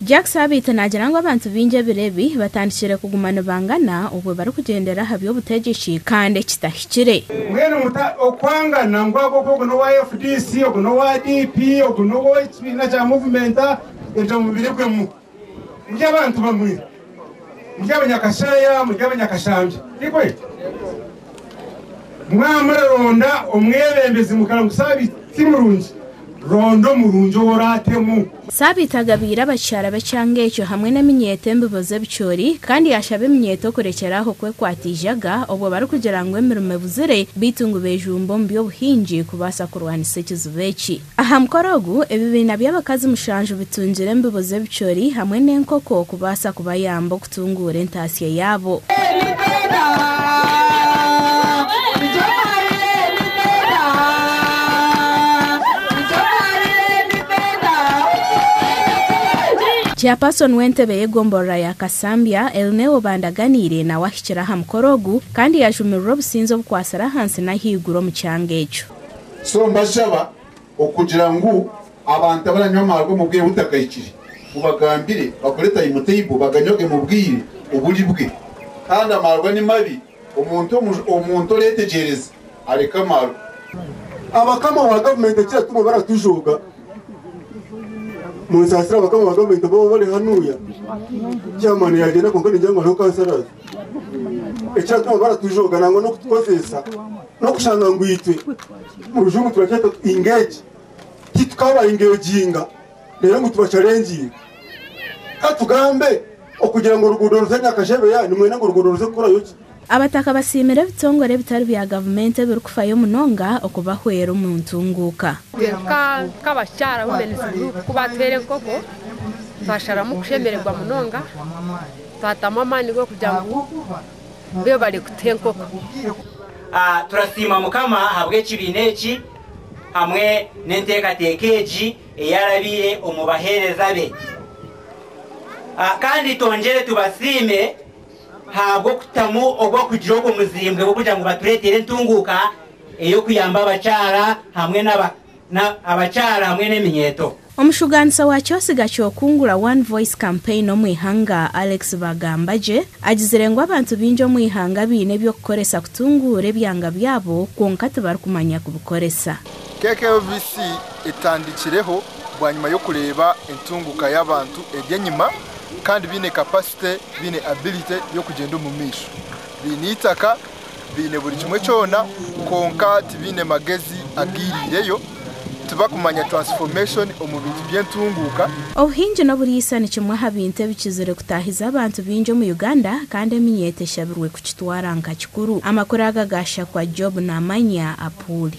Jack Sabiiti naagira ngu abantu baingi ebiro ebi batandikiire kuguma nibangana obwo barikugyendera aha by'obutegyeki kandi eki tahikire. Mbwenu muta okwangana ngu agu ogu ogu n'owa fdc, ogu n'owa DP, ogu n'ow'ekibiina kya Muvumenti, ebyo mubiribwemu. Muri abantu bamwe. Muri abanyakasheeya, muri abanyakashambya. Tikwe? Mwaba muraronda omwebembezi mukara ngu Sabiiti ti murungi, ronda omurungi ou oraatemu. Sabiiti agabiire abakyara be ekyanga ekyo hamwe n'eminyeeto embibo z'ebicoori, kandi yaashaba eminyeeto kurekyera aho kwekwata eijaga obwo barikugira ngu emirimo ebuzire beitu ngu beejumbe omu by'obuhingi kubaasa kurwanisa ekizibu eki. Aha mukoro ogu, ebibiina by'abakazi mushanju bitungire embibo z'ebicoori hamwe n'enkoko okubaasa kubayamba okutunguura entaasya yaabo. Chairperson w'entebe y'egomborora ya Kasambya, Elneo Bandaganiire nawe ahikire aha mukoro ogu kandi yajumirirwe obusinzi obukwatsire ahansi n'ahaiguru omu kyanga ekyo. So mbashaba okugira ngu abantu abaranywa amaarwa omu bwire butagahikire, mubagambire bakore timetable baganywage mu bwire oburi bwe. Kandi amaarwa ni mabi, omuntu oretegyereza areke amaarwa. Abakama ba gavumenti ekiratuma baratujooga, munsaasire abakama ba gavumenti ababa bari hanuuya, chairman yagyenda kwonka ningira ngu hariho councillors, ekiratuma baratujooga nangwa n'okutukozeesa N'okushanga ngu itwe, omu rujungu turakyeta tuti engage, titukabaingeginga reero ngu tubacalengiinge. Ka tugambe, okugira ngu oruguudo ruze Nyakashebeya nimwenda ngu oruguudo ruze kukorayo ki? Abataka basiimire ebitongore ebitari bya gavumenti ebirikufayo munonga okubahwera omu ntunguuka. Ka nk'abakyara Women's Group ku baatuhaire enkoko, twasharamu kushemererwa munonga, twatamu amaani g'okugira ngu be barikuta enkoko. Turasiima Mukama ahabw'ekibiina eki hamwe n'enteekateeka egi ei arabiire omu baheereza be. Kandi twongyere tubasiime ahabw'okutamu obw'okugira ogwo muzimbwe gw'okugira ngu batureetere entunguuka ey'okuyamba abakyara hamwe n'abakazi. na abakyara hamwe n'eminyeeto. Omushugaanisa wa kyosiga ky'okungura One Voice Campaign omu ihanga Alex Bagambagye agizire ngu abantu baingi omu ihanga baine eby'okukoresa kutunguura ebyanga byabo kwonka tibarikumanya kubikoresa. KKLVC etandikireho bwanyima y'okureeba entunguuka y'abantu eri enyima kandi baine capacity, baine ability y'okugyenda omumaisho, baine eitaka baine buri kimwe kyona kwonka tibaine magezi agaireireyo, tibakumanya transformation omu bintu by'entunguuka. Obuhingi n'oburiisa ni kimwe aha bintu ebikizire kutaahiza abantu baingi omu Uganda kandi eminyeeto eshabirwe kukitwara nka kikuru. Amakuru aga gaashakwa Job Namanya Apuli.